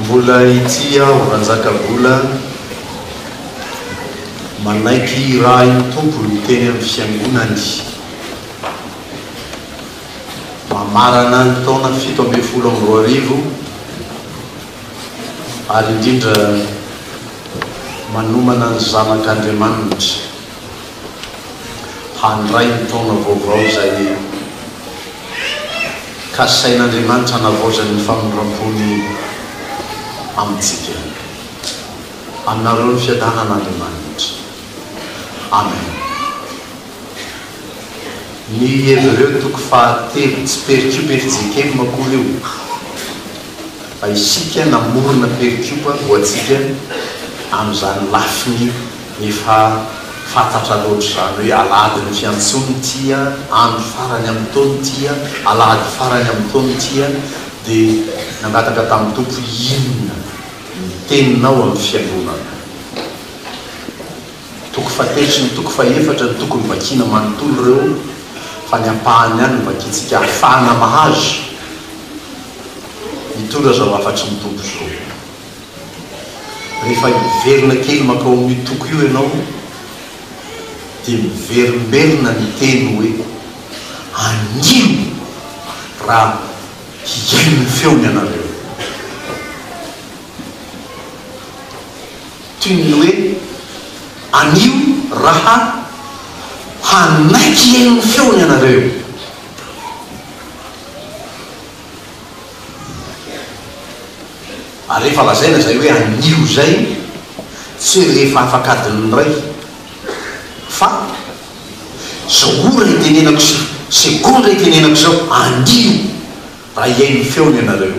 Mbola ity aho Ranjakabola manaiky hirahin'ny tompony teny amin'ny fiangonany mamarana ny taona fito ambin'ny folo amby roa arivo ary indrindra manomana ny zanak'Andriamanitra. handray ny taona vaovao izay e! Kasain'Andriamanitra hanavaozany ny famindram-pony amintsika. Aminareo ny fiadanan'Andriamanitra. Amen. Ny Hebreo toko fahatelo, tsy perikiopa FJKM akory io, fa isika namorona perikiopa ho antsika amin'izany lafiny. Efa fantatra loatra izany hoe alahadin'ny fiantsoana ity andro farany amin'ny taona ity, alahady farany amin'ny taona ity, dia nangataka tamin'ny Tompo hoe inona ny teninao amin'ny fiangonana. Toko fahatelo sy ny toko fahefatra no tokony vakiana manontolo ireo fa ny ampahany ihany no vakiantsika ahafahana mahazo ny tora izao hafatry ny Tompo izao. Rehefa hiverina kely mankao amin'io toko io ianao dia miverimberina ny teny hoe, Anio raha hihaino ny feony ianareo. Toy ny hoe, Anio raha hanaiky hihaino ny feony ianareo. Ary rehefa lazaina izay hoe anio izay, tsy rehefa afak'adin'ny iray, fa izao ora itenenako sy segondra itenenako izao, anio, raha hihaino ny feony ianareo,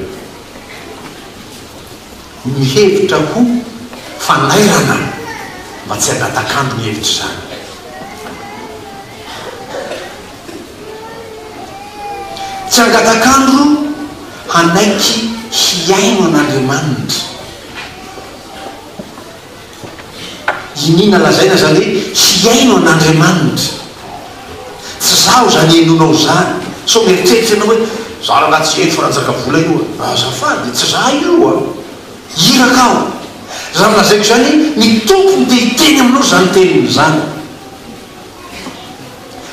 mihevitra ho fanairana mba tsy hangatak'andro ny hevitra izany. Tsy hangatak'andro hanaiky hihaino an'Andriamanitra. Iniana lazaina izany hoe hihaino an'Andriamanitra. Tsy izaho izany henoinao izany. Sao mieritreritra ianao hoe, Izaho rangahy tsy heno fa Ranjakavola io an. Azafady, tsy izaho io an. Iraka aho. Izany lazaiko izany, ny Tompo no te-hiteny aminao izany teniny izany.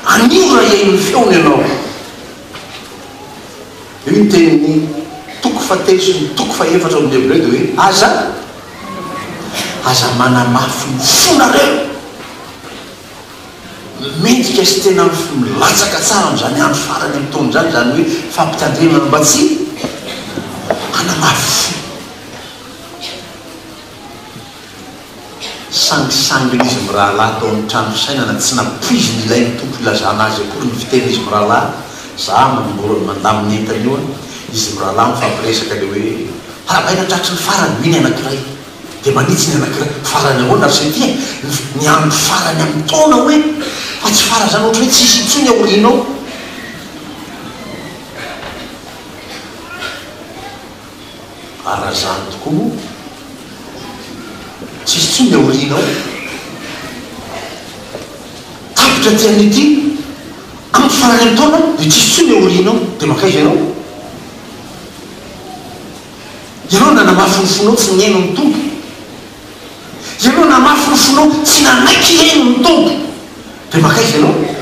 Anio raha hihaino ny feony ianao, dia io tenin'ny toko fahatelo sy ny toko fahefatra ao amin'ny Hebreo dia hoe, Aza, aza manamafy ny fonareo. Mendrika sy tena milatsaka tsara amin'izany andro farany amin'ny taona izany izany hoe fampitandremana mba tsy hanamafy fo. Sangisangy il'izy mirahalahy tao amin'ny trano fisainana, tsy nampoiziny ilain'ny Tompo ilazana azy akory ny fitenin'izy mirahalahy, za manongorona mandamina entana io an! izy mirahalahy mifampiresaka dia hoe, Harabaina tratry ny farany, hoy ny anankiray, dia manitsy ny anankiray, farany ahoana ry se ty an! ny andro farany amin'ny taona hoy e! fa tsy farany izany ohatra hoe tsy hisy intsony aoriana ao. ary raha izany tokoa moa tsisy intsony aoriana ao. Tapitra aty amin'ity andro farany amin'ny taona dia tsisy intsony aoriana ao, dia mankaiza ianao? Ianao nanamafy ny fonao tsy nihaino ny Tompo. Ianao namafy ny fonao tsy nanaiky hihaino ny Tompo, dia mankaiza ianao?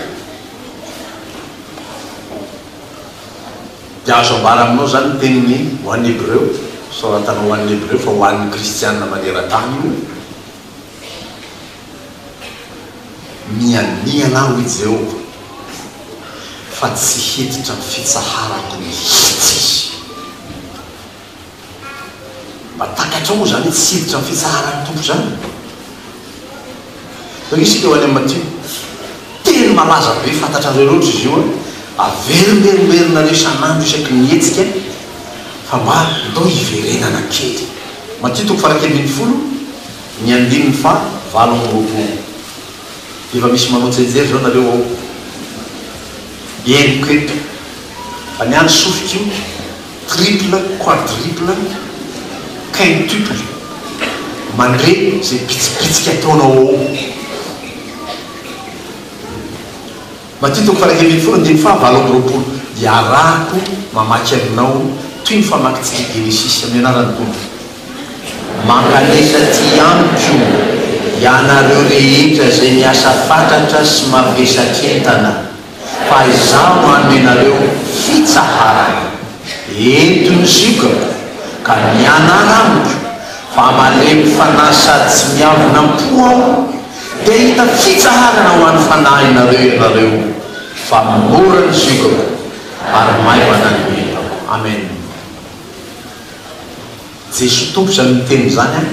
Dia azo ambara aminao izany ny teniny ho an'ny Hebreo, soratana ho an'ny Hebreo fa ho an'ny Kristiana maneran-tany io, Mianiana aho, hoy Jehovah, fa tsy hiditra amin'ny fitsaharako mihitsy izy. Mba takatrao moa izany hitsiditra ny fitsaharan'ny Tompo izany? Risque eo any amin'i Matio. Teny malaza be, fantatrareo loatra izy io. Averimberimberina isan'andro isaky ny hetsika fa mba ndao hiverenana kely. Matio toko faha iraika ambin'ny folo, ny andininy faha valo amby roapolo. Efa misy manao tsenjery izao nareo ao. Henoko eto fa ny an'ny sofiko io triple, quadruple, quintuple, mandre izay bitsibitsika ataonao ao. Matito faha iraika ambin'ny folo andininy faha valo amby roapolo, iarahako mamaky aminao toy ny famakintsika Genesisy amin'ny anaran'ny Tompo. Mankalefa aty amiko ianareo rehetra izay miasa fatratra sy mavesak'entana. Fa izaho manome anareo fitsaharana, ento ny ziokako, ka mianara amiko, fa malemy fanahy sady tsy miavona am-po aho, dia hahita fitsaharana ho an'ny fanahinareo ianareo, fa mora ny ziokako, ary maivana ny entako. Amen. Jesoa Tompo izany miteny izany an!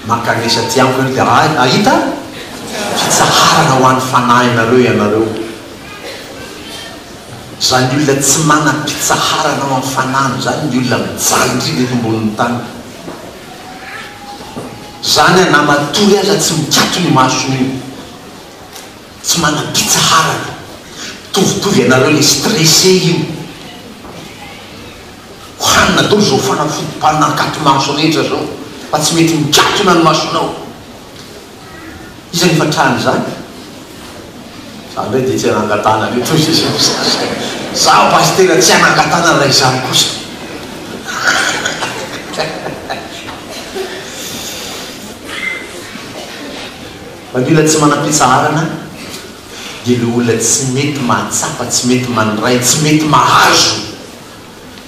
Mankanesa aty amiko ianao dia hahita fitsaharana ho an'ny fanahinareo ianareo. Izany olona tsy manam-pitsaharana ao amin'ny fanahiny izany ny olona mijaly indrindra eto ambonin'ny tany. Izany an, na matory aza tsy mikatona io masony io. Tsy manam-pitsaharana. Mitovitovy ianareo ilay stressé io. Hohanina daholo izao fanafodimbanina akaty maso rehetra izao fa tsy mety mikatona ny masonao. Iza no efa trany izany? Za indray dia tsy anangatahana an'io toy izay samy sasany. Izaho pasitera tsy anangatahana raha izany kosa. Fa ny olona tsy manam-pitsaharana dia ilay olona tsy mety mahatsapa, tsy mety mandray, tsy mety mahazo.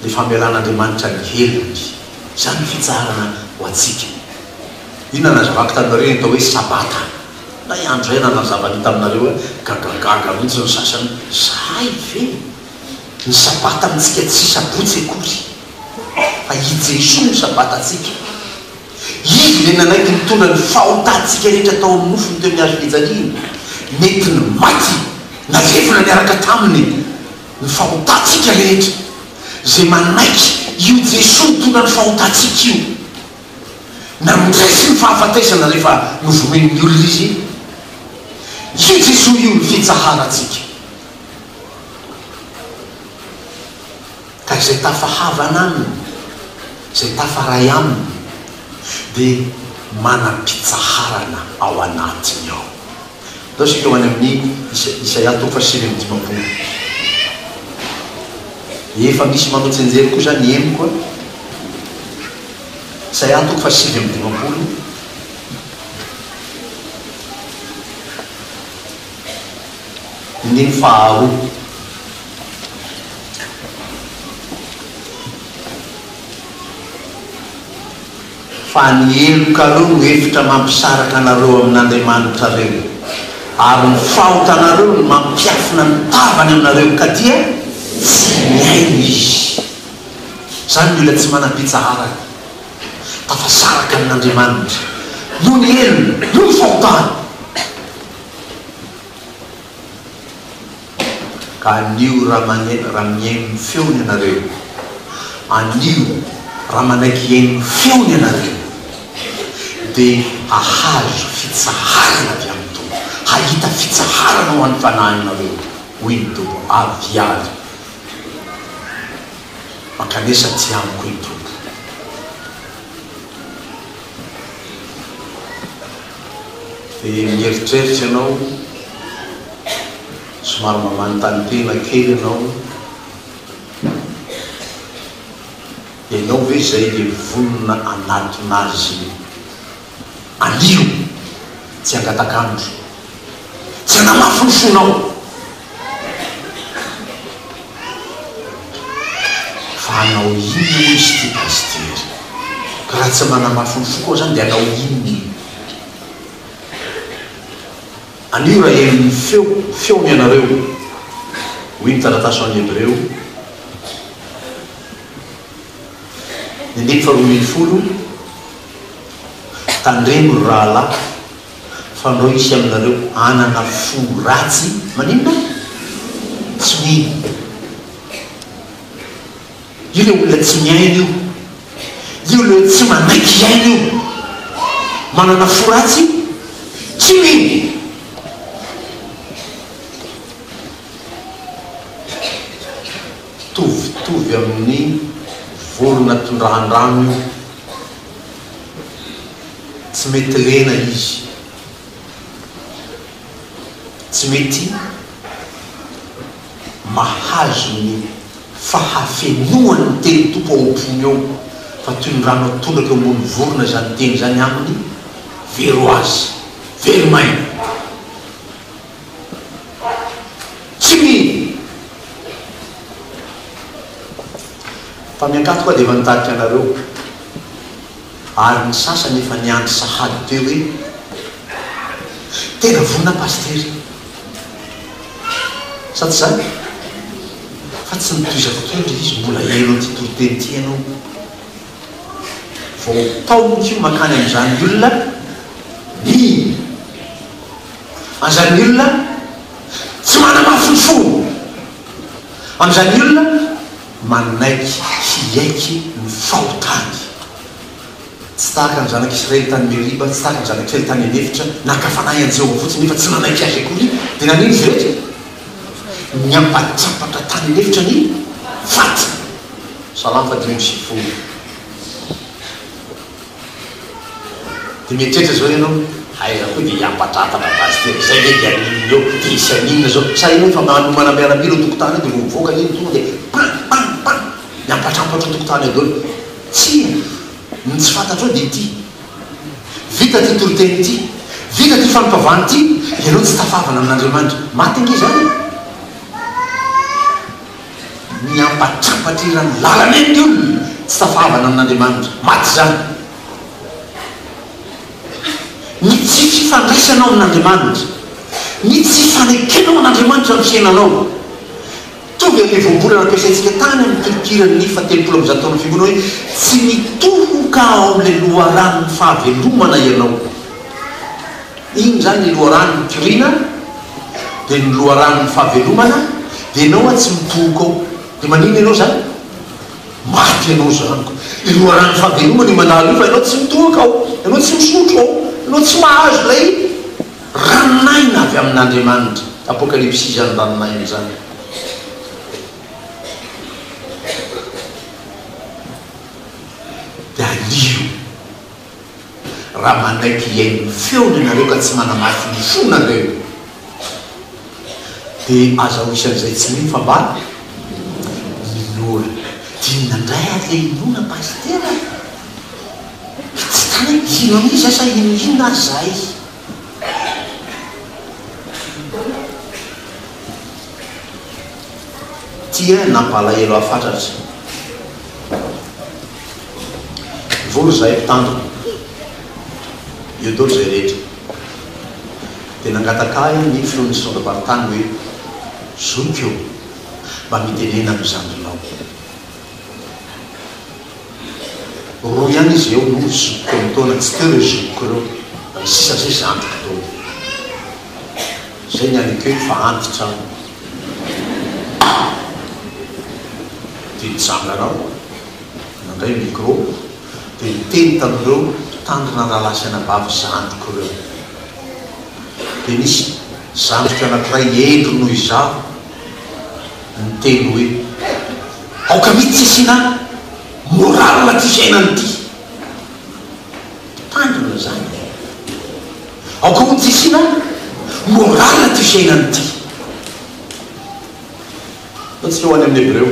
ny famelan'Andriamanitra ny helony. Izany ny fitsaharana ho antsika. Inona nazavako taminareo ny atao hoe Sabata? Na i andro izay na nazavany io taminareo hoe gagagaga mihitsy ny sasany hoe zahay ve ny Sabata amintsika tsy Sabotsy akory fa i Jesoa no Sabatantsika. Izy ilay nanaiky nitondra ny fahotantsika rehetra tao amin'ny nofony teo amin'ny hazo fijaliana. Nentiny maty na levona niaraka taminy. ny fahotantsika rehetra, izay manaiky io Jesoa mitondra ny fahotantsika io. Namindray izy ny fahafatesana rehefa novonoin'ny olona izy. Io Jesoa io no fitsaharantsika. Ka izay tafahavana Aminy, izay tafaray Aminy, dia manam-pitsaharana ao anatiny ao. Izao isika ho any amin'ny Isa, Isaia toko fahasivy amby dimampolo. Efa misy manao tsenjery koa izany henoko a. Isaia toko fahasivy amby dimampolo. Andininy faharoa. Fa ny helokareo no efitra mampisaraka anareo amin'Andriamanitrareo, ary ny fahotanareo no mampiafina ny tavany aminareo, ka dia tsy mihaino izy. Izany mila tsy manam-pitsaharana, tafasaraka amin'Andriamanitra, noho ny helony, noho ny fahotany. ka anio raha mihaino ny feony ianareo, anio raha manaiky hihaino ny feony ianareo, dia hahazo fitsaharana avy amin'ny Tompo, hahita fitsaharana ho an'ny fanahinareo, hoy ny Tompo. Avia ary mankanesa aty amiko, hoy ny Tompo. dia mieritreritra ianao, somary mamanontany tena kely ianao, ianao ve izay dia vonona hanatona azy anio? Tsy angatak'andro, tsy hanamafy ny fonao. Fa hanao inona moa izy ity pasitera? Ka raha tsy manamafy ny foko zany dia hanao inona? Anio raha heno ny feo, feony ianareo, hoy ny taratasy ho an'ny Hebreo, ny andininy faharoambinifolo, Tandremo ry rahalahy, Fandro hisy aminareo anana fo ratsy maninona? tsy mino io le olona tsy miaina io io le tsy manaiky hiaina io manana fo ratsy tsy mino tovitovy amin'ny vorona tondrahan-drano io Tsy mety lena izy. Tsy mety mahazo ny fahafenoan'ny teny Tompo ao am-pony ao, fa toy ny rano atondraka eo ambony vorona izany teny izany aminy, very ho azy, very maina. Tsy mino! Fa ny Ankatso koa dia efa nitarika anareo, ary ny sasany efa niandry sahady teo hoe tena vonona Pasitera. Sa tsy izany? Fa tsy nitohizako kely ilay izy, mbola heno an'ity toriteny ity ianao. Vao taonoko io mankany amin'izany olona mino. an'izany olona tsy manamafintsony, amin'izany olona manaiky hiaiky ny fahotany. Tsy tahaka ny zanak'Israely tany Meriba, tsy tahaka ny zanak'Israely tany an'efitra, naka fanahy an'i Jehovah fotsiny nefa tsy nanaiky azy akory. Dia nanino izy rehetra? Niampatrampatra tany an'efitra ny fatiny. Salamo fahadimy amby sivifolo. Dia mieritreritra zao ianao, aiza koa dia hiampatratatra base tena, izay ve dia ny inona eo, dia izay ny inona zao, sa ianao efa manomana miaramila eo tokotany eo dia vao mivoaka anie ny tonga dia pam pam pam, miampatrampatra eo tokotany eo daholo. Tsia, ny tsy fantatrao dia ity, vita ity toriteny ity, vita ity fampivavahana ity, ianao tsy tafavana amin'Andriamanitra. Maty ange izany e! Miampatrampatra eran'ny lalana eny ny olona, tsy tafahavana amin'Andriamanitra. Maty izany. Ny tsy fifandraisanao amin'Andriamanitra, ny tsy fanekenao an'Andriamanitra amin'ny fiainanao. Tonga ilay voambolana nampiasaintsika tany amin'ny kilitiran'ny fahatelopolo amby zato taonan'ny fiangonana hoe, Tsy mitohoka ao amin'ilay loharanon'ny fahavelomana ianao. Iny izany ny loharano nitoriana dia ny loharano ny fahavelomana dia ianao atsy mitohoka ao dia maninona ianao izany? Maty ianao izany ko! Ny loharanon'ny fahavelomana io mandalo io fa ianao tsy mitohoka ao, ianao tsy misotro ao, ianao tsy mahazo ilay ranon'aina avy amin'Andriamanitra. Apokalypsy izany ranon'aina izany. Dia alio. raha manaiky hihaino ny feony ianareo ka tsy manamafy ny fonareo dia aza ho isan'izay tsy mino fa mba minoa. Dia inona indray ary le inoana pasitera e? Tsy tany hoe hino an'iza sa hino inona ary zahay. Tia nampalahelo ahy fatratra. Mivory izahay mpitandrina, Lieutenant izay rehetra, dia nangataka ahy ny filohan'ny zondam-paritany hoe, Zoky ô, mba mitenena amin'ny zandrinao. Roa ihany izy eo no zokiko amin-taona, tsy teo ireo zokiko ireo, fa ny sisa sisa antoko daholo. Izay ny anak'io fa antitra aminy. Dia nitsanga aho, nandray micro, dia niteny tamin'ireo mpitandrina rahalahy sy anabavy zandriko ireo. Dia nisy zandriko anankiray hendry noho izaho niteny hoe, Aoka mihitsy tsy asiana morale ity fiainana ity. Mpitandrina izany e! Aoka ho diso na morale ity fiainana ity. Ataontsika ho any amin'ny Hebreo,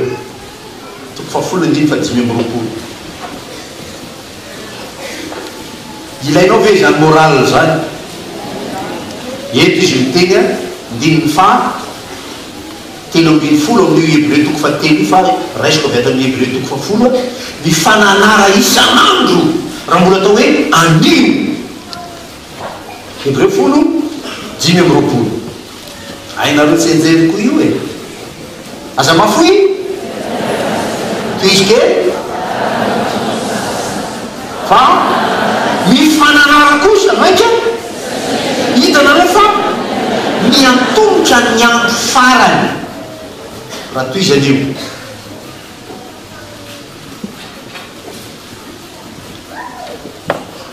toko fahafolo andininy fahadimy amby roapolo. Ilainao ve izany morale izany? Eto izy miteny andininy faha telo ambin'ny folo amin'io Hebreo toko fahatelo io, fa raisiko avy ato amin'ny Hebreo toko fahafolo, ny fananara isan'andro, raha mbola atao hoe anio. Hebreo folo, dimy amby roapolo. Hainareo tsianjery koa io e! Aza mafoy! Tohizo kely! Fa ny fananara kosa, mainka hitanareo fa miantomotra ny andro farany raha toy izany io.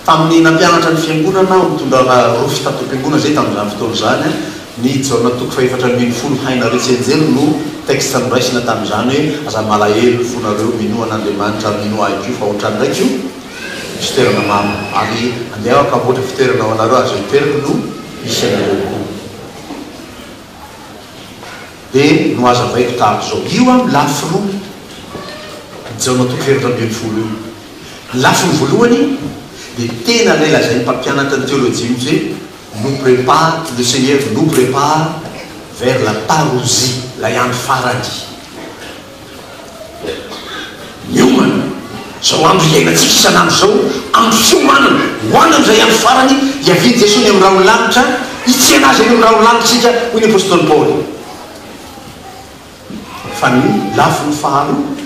Tamin'ny nampianatra ny Fiangonana ho tondrana rofy tato am-piangonana izay tamin'izany fotoana izany, ny Jaona toko fahefatra ambin'ny folo Haina re tsy enjery no texte noraisina tamin'izany hoe aza malahelo ny fonareo, minoa an'Andriamanitra ary minoa ahy koa fa ohatrany ndraiky io misy toerana maro ary andeha aho hamboatra fitoerana ho anareo ary izay toerako no hisy anareo koa. Dia nohazavaiko tahaka izao. Io amin'ny lafy roa ny Jaona toko efatra ambin'ny folo io. Ny lafiny voalohany dia tena ilay lazain'ny mpampianatra ny teolojia mihitsy hoe nous prépare, le Seigneur nous prépare vers la parousie, ilay andro farany. Miomana, izao andro iainantsika isan'andro izao, andro fiomanana, ho any amin'izay andro farany hiavian'i Jesoa ny amin'ny rahon'ny lanitra, hitsena Azy any amin'ny rahon'ny lanitra isika, hoy ny Apostoly Paoly. Fa ny lafiny faharoa,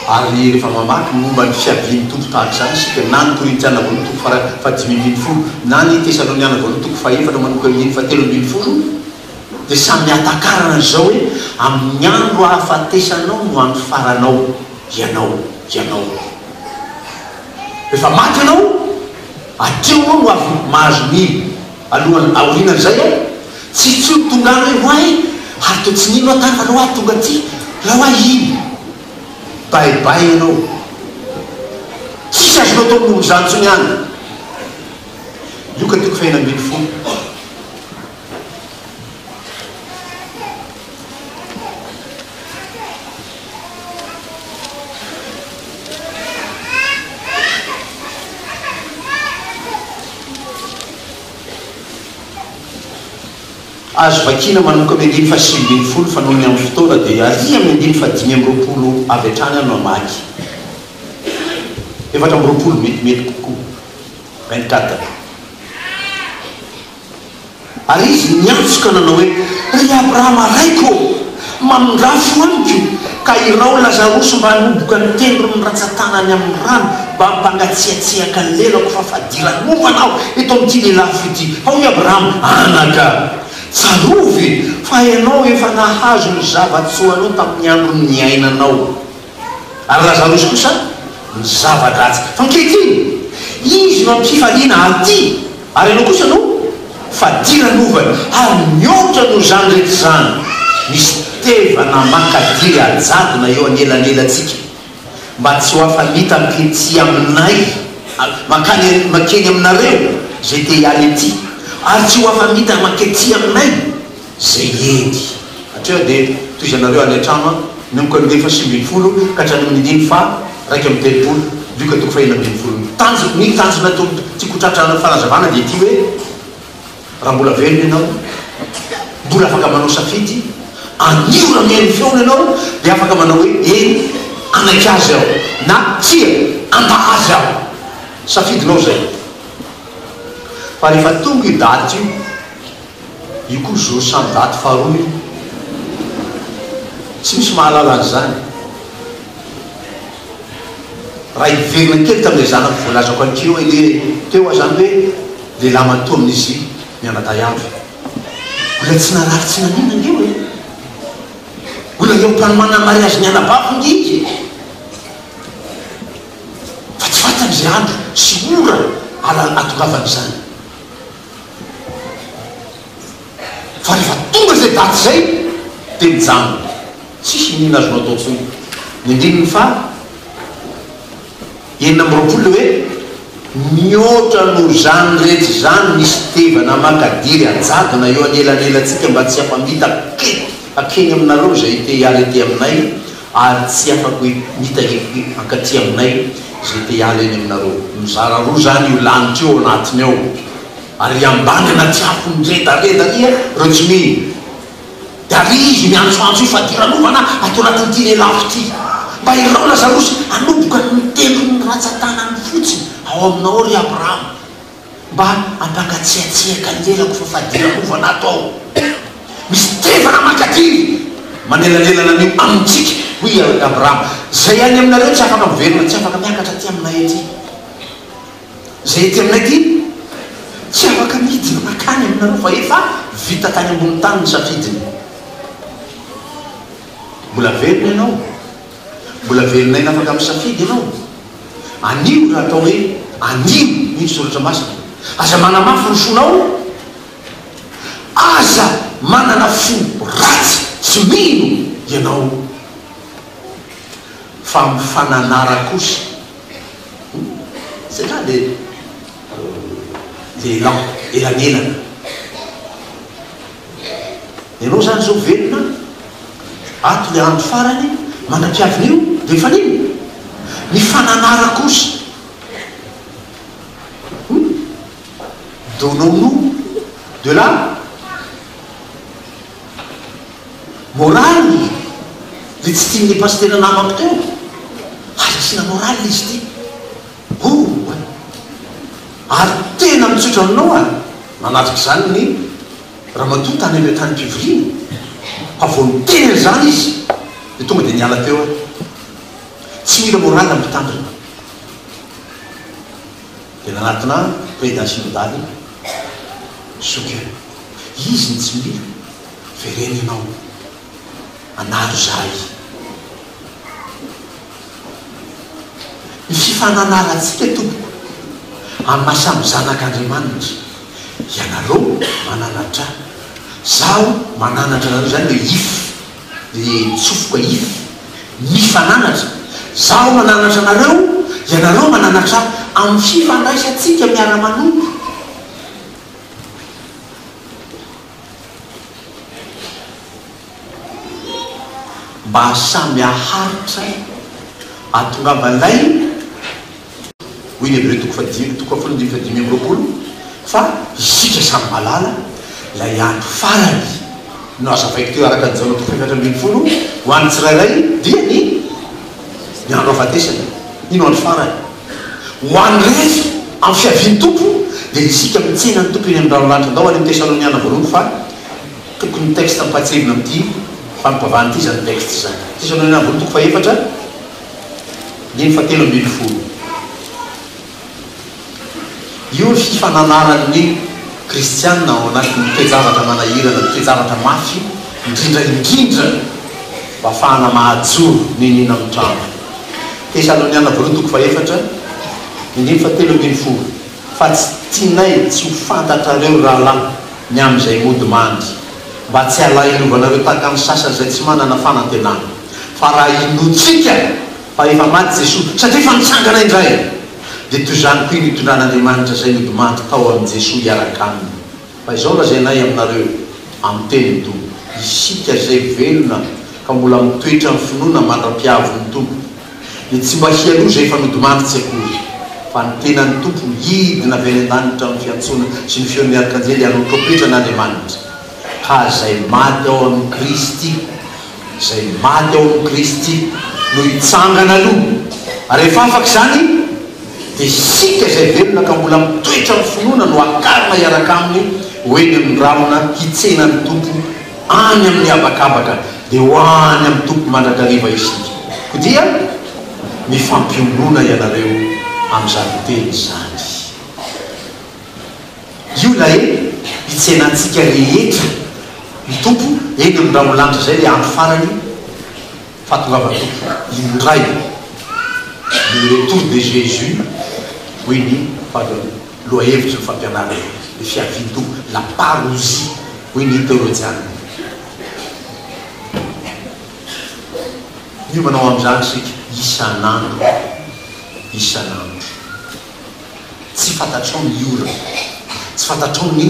ary rehefa mamaky ny momba ny fiavian'ny Tompo tahaka izany isika, na ny Korintiana voalohany toko fahadimy ambin'ny folo, na ny Tesaloniana voalohany toko fahefatra manomboka amin'ny andininy fahatelo ambin'ny folo, dia samy hatakarana izao hoe amin'ny andro hahafatesanao no andro faranao ianao ianao rehefa maty ianao hatreo ianao no avy mahazo mino alohan aorianan'izay aho tsy tsy ho tonga any hoe hoay ary toa tsy nino aho tany fa raha hoay tonga aty raha hoay iny bay bay ianao tsisy azonao atao momba izany intsony any io ka tiako fiainam-biny fo Azo vakina manomboka amin'ny andininy fahasivy ambin'ny folo fa noho ny amin'ny fotoana dia aria amin'ny andininy fahadimy amby roapolo avy hatrany aho no hamaky. Efatra amby roapolo, metimety kokoa. Vingt-quatre. Ary izy niantso ka nanao hoe, Ry Abrahama raiko ô, mamindrafo amiko ka irao Lazarosy mba hanoboka ny tendron'ny ratsan-tanany amin'ny rano mba hampangatsiatsiaka ny lelako fa fadiranovana aho eto amin'ity lelafo ity. Fa hoy Abrahama, Anaka, tsarovy fa ianao efa nahazo ny zava-tsoanao tamin'ny andron'ny niainanao. Ary Lazarosy kosa ny zava-dratsy. Fa ankehitriny, Izy no am-pifaliana aty, ary ianao kosa no fadiran'ny ovany. Ary mihoatra noho izany rehetra izany, misy tevana mankadiry hajadona eo anelanelantsika, mba tsy ho afa-nita aty aminay, mankany, mankeny aminareo izay te hiala ety, ary tsy ho afa-nita mankety aminay. Zay edy. Hatreo dia tohizanareo any an-trano an, nanomboka ny dimy faha sivy ambin'ny folo ka hatrany amin'ny dimy faha iraika amby telopolo, Lioka toko faha enina ambin'ny folo. Ny tanjona, ny tanjona tokony tiako ho tratrarina fanazavana dia ity hoe, raha mbola velona ianao, mbola afaka manao safidy, anio raha mihaino ny feony ianao dia afaka manao hoe eny, hanaiky azy aho, na tsia, handa azy aho. Safidinao izay. Fa rehefa tonga io daty io. Io koa zo samy ndaty faharoa io. Tsy misy mahalala an'izany. Raha hiverina kely tamin'ilay zanako voalazako an'ity eo anie teo aho izany hoe lehilahy matoa amin'izy mianadahy amiko. Mbola tsy narary tsy naninona ange hoe. Mbola eo am-panomana ny mariazin'ny anabaviko ange izy e. Fa tsy fantany izay andro sy ora alan-hatongavany izany. Fa rehefa tonga izay daty izay dia mijanona. Tsisy iniana azonao atao intsony. Ny andininy faha enina amby roapolo dia hoe, Mihoatra noho izany rehetra izany, misy fitevana mankadiry hajadona eo anelanelantsika mba tsy hampamita akaiky hakeny aminareo izay te hiala ety aminay, Ary tsy afaka hoe mitangefy hoe hankaty aminay izay te hiala eny aminareo. Mizara roa izany io lanitra io ao anatiny ao, ary i ambany anaty afo miredareda ary ireo tsy mino. Dia ary izy miantsoantso io fadiranovana ato anatin'ity lelafo ity, Mba irao Lazarosy hanoboka ny tendron'ny ratsan-tanany fotsiny ao aminao, ry Abrahama. Mba ampangatsiatsiaka ny lelako fa fadirako vao nato aho. Misy tevana mankaty manelanelana anio amintsika, hoy i Alg Abraham. Izay any aminareo tsy afaka miverina, tsy afaka miakatra aty aminay aty. Izay aty aminay aty tsy afaka midina mankany aminareo fa efa vita tany ambony tany ny safidiny. Mbola velona ianao. Mbola velon'aina afaka misafidy ianao? Anio raha atao hoe anio hoy ny soratra masina, aza manamafy ny fonao, aza manana fo ratsy tsy mino ianao fa mifananara kosa. Hum zay nga le lehilahy elanelana. Ianao izany izao velona ato ny andro farany manampihavina io dia efa nino? Ny fananara kosa hum! Donnons-nous de la morale dia tsy tian'ny pasitera namako teo aza asiana morale izy ity oh! Ary tena mitsotra aminao aho nanatrika izany ny Ramatoa tany amin'ny antanim-pivoriana fa vao niteny an'izany izy dia tonga dia niala teo aho. Tsy mila morale ny mpitandrina. Dia nanatona ahy ny président synodale Soukeh. Izy no tsy mila, vereno ianao. anaro izahay. Ny fifananarantsika tompoko amin'ny maha samy zanak'Andriamanitra, ianareo mananatra ahy, izaho mananatra anareo, izany ilay if, ilay tsofoka if, mifananatra, izaho mananatra anareo, ianareo mananatra ahy, amin'ny fifandraisantsika miara-manompo. Mba samy haharitra e! Atongava lay win hebreo toko fahadimy toko fahafolo ambin'ny fahadimy amby roapolo fa isika samy malala lay andro farany no azavaiko teo araka ny jaona toko fahefatra ambin'ny folo ho an'ny tsirairay dia ny ny andro afatesana iny andro farany Ho an'ny rery, amin'ny fiavian'ny Tompo, dia isika mitsena ny Tompo eny amin'ny rahon'ny lanitra. Andao any amin'ny Tesaloniana Voalohany fa tokony ny texte ampahatsevina amin'ity fampivavahana ity izany texte izany. Tesaloniana Voalohany toko fahefatra, andininy fahatelo ambin'ny folo. Io ny fifananaran'ny kristiana ao anatin'ny toe-javatra manahirana, ny toe-javatra mafy indrindra indrindra mba hahafahana mahajoro ny nina amin'ny trano. Tesaloniana Voalohany toko fahefatra, dindininy fahatelo ambin'ny folo, Fa tsy tianay tsy ho fantatrareo, rahalahy, ny amin'izay mody mandry, mba tsy halahinovanareo tahaka ny sasany izay tsy manana fanantenana, fa raha inoantsika fa efa maty Jesoa, satria efa nitsangana indray, dia toy izany koa iny itondran'Andriamanitra izay nody mandry tao amin'i Jesoa hiaraka Aminy. Fa izao lazainay aminareo amin'ny tenin'ny Tompo, isika izay velona ka mbola mitoetra amin'ny finoana mandra-piavin'ny Tompo, dia tsy mba hialoha izay efa nodimandry tsy akory, fa ny tenan'ny Tompo no hidina avy any an-danitra amin'ny fiantsoana sy ny feon'ny arkanjely hanao trompetra an'Andriamanitra, ka izay maty ao amin'i Kristy Izay maty ao amin'i Kristy no hitsangana aloha, ary rehefa afaka izany, dia isika izay velona ka mbola mitoetra amin'ny finoana no hakarina hiaraka aminy ho eny amin'ny rahona hitsena ny Tompo any amin'ny habakabaka, dia ho any amin'ny Tompo mandrakariva isika. Koa dia mifampionona ianareo amin'izany teny izany. Io ilay hitsenantsika rehetra ny Tompo eny amin'ny ranolanitra izay ilay andro farany fahatongavan'ny Tompo indray le retour de Jesus hoy ny vavy lohahevitry ny fampianarana ny fiavian'ny Tompo la parousie hoy ny teolojiana. Miomana ho amin'izany isika isan'andro isan'andro. Tsy fantatrao ny orana. Tsy fantatrao ny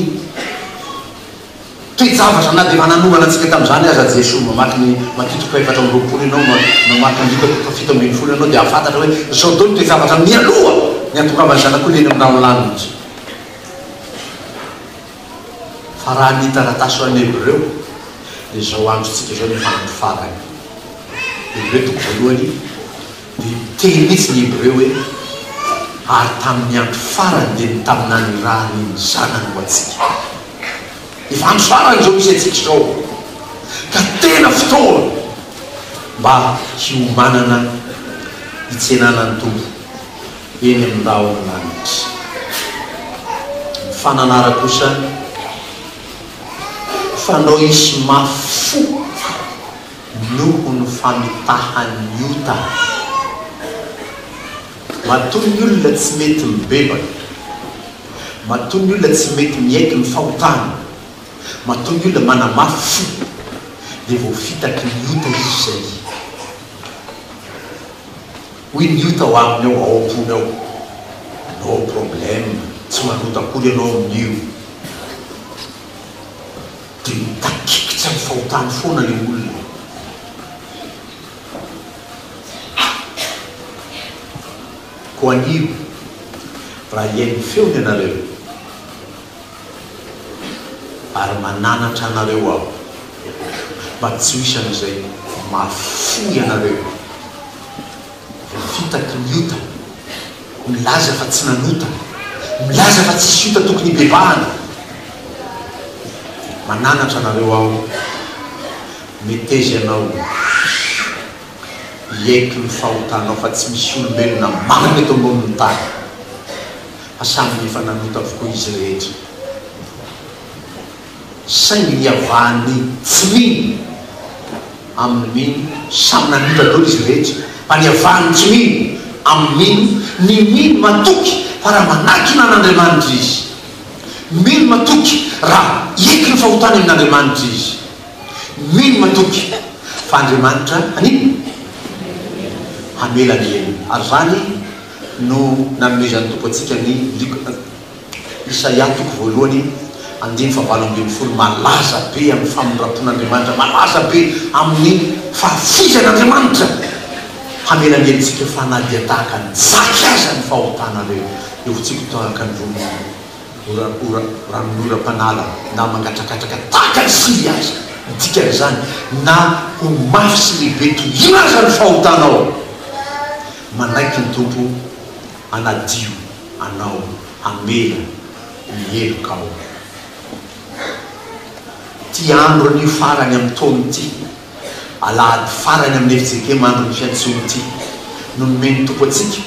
toe-javatra na dia efa nanomana antsika tamin'izany aza Jesoa. Mamaky ny Matio toko fahefatra amby roapolo ianao, mamaky ny Loka toko fahafito ambin'ny folo ianao dia hahafantatra hoe izao daholo ny toe-javatra mialoha ny hahatongavan'ny Zanak'olona eny amin'ny rahon'ny lanitra. Fa raha ny taratasy ho an'ny Hebreo dia izao androntsika izao no efa andro farany. Hebreo toko voalohany. Niteny mihitsy ny Hebreo hoe, Ary tamin' ny andro farany dia nitaminany ny ra ny ny Zanany ho antsika. Efa andro farany izao misy antsika izao, ka tena fotoana mba hiomanana hitsenana ny Tompo eny amin' ny rahon' ny lanitra. Ny fananara kosa ho fanao hisy mafy fo. noho ny famitahan'ny ota. Matoa ny olona tsy mety mibebaka, matoa ny olona tsy mety miaiky ny fahotana, matoa ny olona manamafy fo, dia voafitaky ny ota izy izay. Hoy ny ota ao aminy ao, ao am-pony ao, No problème, tsy manota akory ianao amin'io. Dia mitakikitsa ny fahotany foana ilay olona e! Koa anio, raha hihaino ny feony ianareo, ary mananatra anareo aho mba tsy ho isan'izay mahafoy anareo, Fitaky ny ota, milaza fa tsy nanota, milaza fa tsisy ota tokony hibebahana. Mananatra anareo aho, meteza ianao, ieky ny fahotanao fa tsy misy olombelona marina eto ambonin'ny tany, fa samy efa nanota avokoa izy rehetra. Saingy niavahan'ny fminy amin'ny mino samy namita dolo izy rehetra fa niavahan'ny tsy mino amin'ny mino ny mino matoky fa raha manakina an'Andriamanitra izy, mino matoky raha eky ny fahotany amin'Andriamanitra izy, mino matoky fa Andriamanitra hanino? Hamela ny helony. Ary izany no nanomezan'ny Tompo antsika ny Luk. Isaia toko voalohany andininy fahavalo ambin'ny folo malaza be amin'ny famindrampon'Andriamanitra, malaza be amin'ny fahafoizan'Andriamanitra hamela ny helotsika fa na dia tahaka ny jaky aza ny fahotanareo eo fotsiko tahaka ny ronono ranon'ny oram-panala na mangatrakatraka tahaka ny sivy aza ny dikan'izany na ho mafy sy lehibe toy ina aza ny fahotanao manaiky ny Tompo hanadio anao hamela ny helokao. Ity andro anio farany amin'ny taona ity, alahady farany amin'ny FJKM andron'ny fiantsoana ity no nomen'ny Tompo antsika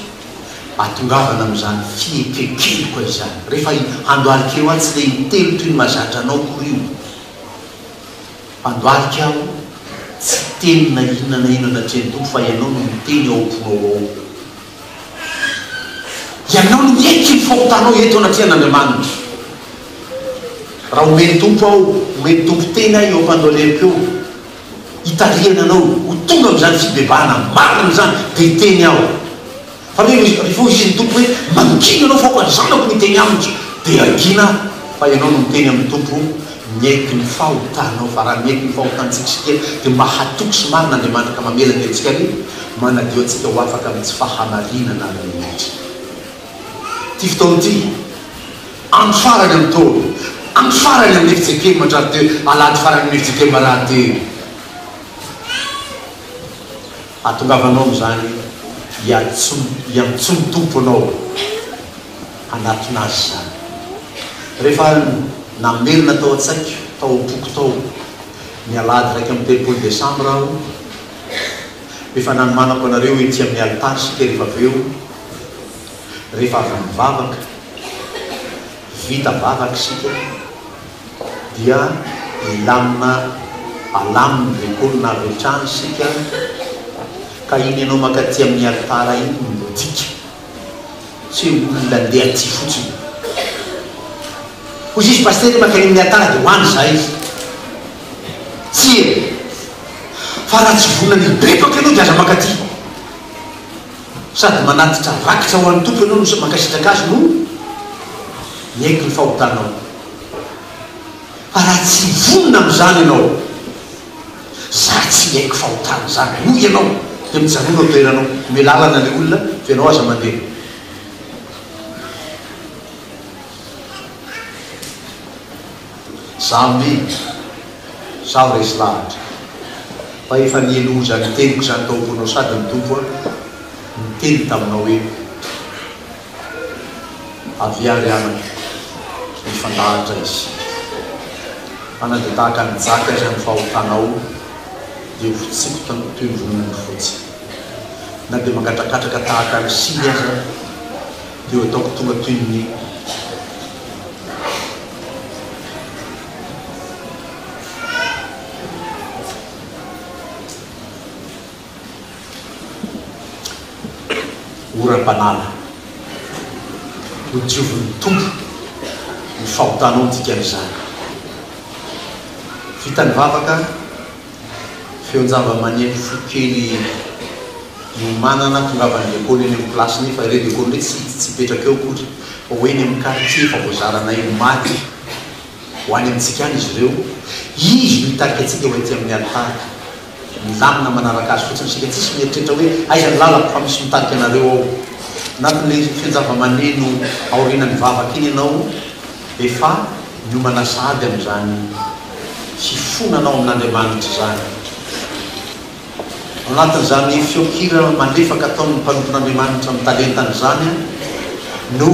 ahatongavana amin'izany fiekenkeloka izany. Rehefa i Andohalika io aho tsy dia intelo toy ny mahazatra anao akory io. Andohalika aho tsy teny na inona na inona natrehan'ny Tompo fa ianao no miteny ao am-ponao ao. Ianao no hiaiky ny fahotanao eto anatrehan'Andriamanitra. Raha omeny Tompo aho, omeny Tompo teny ahy eo am-pandohalehiko eo, hitarihana anao ho tonga amin'izany fibebahana marina izany, dia hiteny aho. Fa re rehefa hoy ny Tompo hoe, Mangina anao fa aoka ny zanako miteny amiko, dia hangina aho, fa ianao no miteny amin'ny Tompo, Miaiky ny fahotanao fa raha miaiky ny fahotantsika isika dia mba hatoky sy marina Andriamanitra ka mamela ny herintsika ary manadio antsika ho afaka amin'ny tsy fahamarinana amin'ny naitrika. Ity fotoana ity, andro farany amin'ny taona, andro farany amin'ny fijekema andrarty, alahady farany amin'ny fijekema rahateo. Ahatongavanao amin'izany hiantsoan'ny Tompo anao hanatona Azy izany. Rehefa namelona tao an-tsaiko, tao am-poko tao, ny alahady iraika amby telopolo desambra aho, efa nanomanako anareo ety amin'ny alitara isika rehefa avy eo, rehefa avy nivavaka, vita vavaka isika, dia hilamina alamin' ny kolona avy hatrany isika ka iny ianao mankaty amin' ny alitara iny no midika tsy hoe olona andeha aty fotsiny. Hoy izy, Pasitera mankany amin' ny alitara dia ho any izahay. Tsia, fa raha tsy vonona ny hipetraka ianao dia aza mankaty. Sady manatitra rakitra ho an' ny Tompo ianao no mankasitraka Azy no miaiky ny fahotanao. Fa raha tsy vonona amin'izany ianao, za tsy hiaiky fahotana zany, hoy ianao, dia mijanona eo toeranao, omeo lalana ilay olona fa ianao aza mandeha. Zaho mino, zaho resy lahatra, fa efa niely oza ny teniko izany tao am-ponao sady ny Tompo an, niteny taminao hoe. Avia ary anaka, mifandahatra izy. Fa na dia tahaka ny jaky aza ny fahotanao, dia ho tsipika toy ny ronono fotsy. Na dia mangatrakatraka tahaka ny sily aza, dia ho ataoko tonga toy ny Oram-panala. Nodiovin'ny Tompo ny fahotanao dikan'izany. Vita ny vavaka, feon-java-maneno fohy kely niomanana, tongavan'i Lekôly eny amin'ny plasiny, fa re Lekôly hoe tsy tsy hipetraka eo akory fa ho eny amin'ny kartie efa voazaranay ho maty ho any amintsika any izy ireo, izy no hitarika antsika ho ety amin'ny alitara. Milamina manaraka azy fotsiny isika, tsisy mieritreritra hoe aiza ny lalako fa misy mitarika anareo ao anatin'ilay fian-java-maneno aorianan'ny vavaka iny ianao efa miomana sahady amin'izany fifonanao amin'Andriamanitra izany. Ao anatin'izany feon-kira malefaka ataon'ny mpanompon'Andriamanitra amin'ny talentany izany no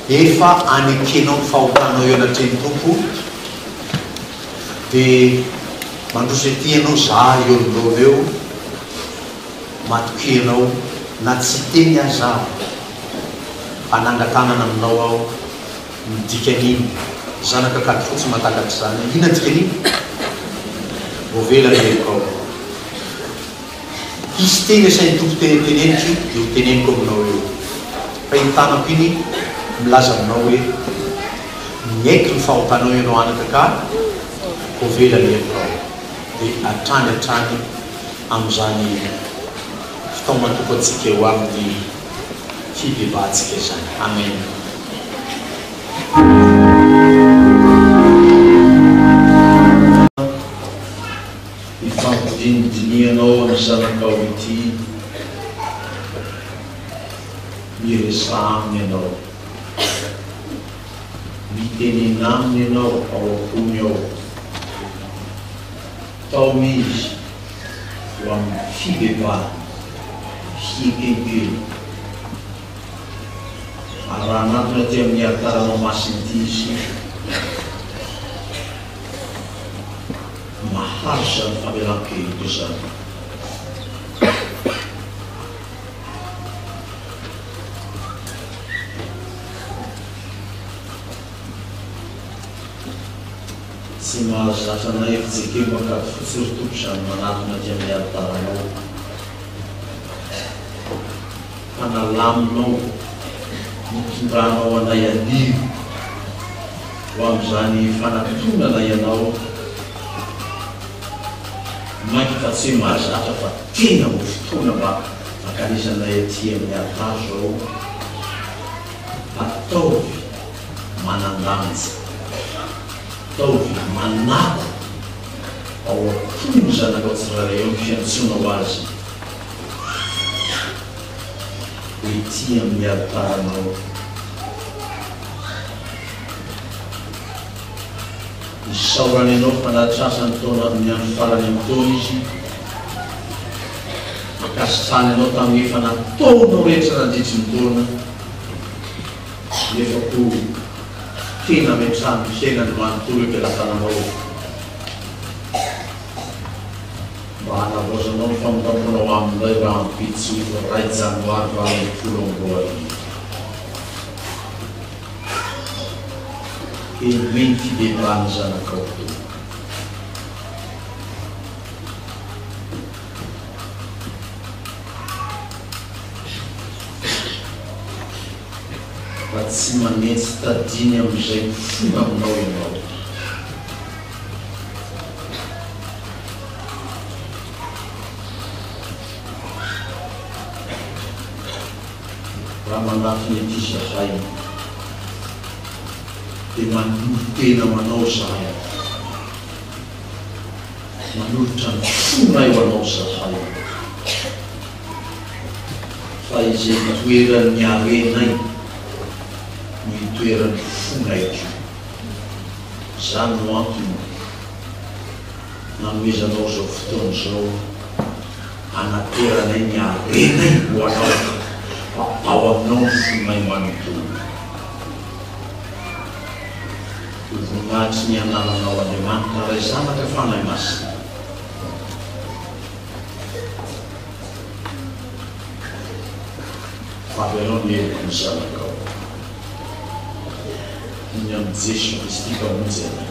efa anekenao ny fahotanao eo anatrehan'ny Tompo, dia mandroso ety ianao zah eo anoloana eo matokia anao na tsy hiteny aza aho hanangan-tanana aminao aho ny dikan'iny zanaka kady fotsy matakatra izany inona dikan'iny voavela ny helokao hisy teny asahin'ny Tompo teny an-teneniko io dia ho teneniko aminao eo fa iny tanako iny milaza aminao hoe miaiky ny fahotanao ianao anaka ka ho vela ny hevitao dia hatrany hatrany amin'izany fitaomana Tompo antsika eo amin'ny fibebahantsika izany. Amen. Ny fampidinidinihanao amin'ny zanakao ity miresaha aminy ianao, mitenena aminy ianao ao am-pony ao, tao izy ho amin'ny fibebahana, fihekempena. Ary raha hanatona aty amin'ny alitaranao masina ity izy, Mahazo izany famelan-keloka izany. Tsy mahazatra na efi-jekembakady fotsy ry Tompo izany manatona aty amin'ny alitaranao, fa nalaminao, nitondranao anay aniry. ho amin'izany fanatontongana ianao mainka fa tsy hoe mahazatra fa tena ho fotoana mba hankanesanay aty amin'ny alitara izao ataovy manan-danja ataovy manako ao am-pon' ny zanakao tsirairay ao ny fiantsoanao azy ety amin'ny alitaranao Isaorany anao fa nahatrasany tao anatin'ny andro farany amin'ny taona izy. Ankasitrahany anao tamin'ny efa nataonao rehetra nandritry ny taona, nefa koa tena ametraha ny fiainany manontolo eo am-pelatananao mba hanavaozanao ny famindram-ponao aminy indray rahampitso iray janoary valo ambin'ny folo amby roa arivo. Henoy ny fibebahana zanakao Tompo. Fa tsy manentsy tadiny amin'izay mifoha aminao ianao. raha mandrafy ny aty zahay dia manolo tena ho anao zahay, manolotra ny fonay ho anao zahay, fa izay itoeran'ny harenay no itoeran'ny fonay koa. Izany no antony nanomezanao izao fotoana izao. Hanateranay ny harenay ho anao, fa ao aminao ny fonay manontolo. Ho voninahitry ny anaranao, Andriamanitra Ray, Zanaka, Fanahy Masina. Fa avy anao ny heloka ny Zanakao. Ny amin'i Jeso Kristy Mpamonjy anay.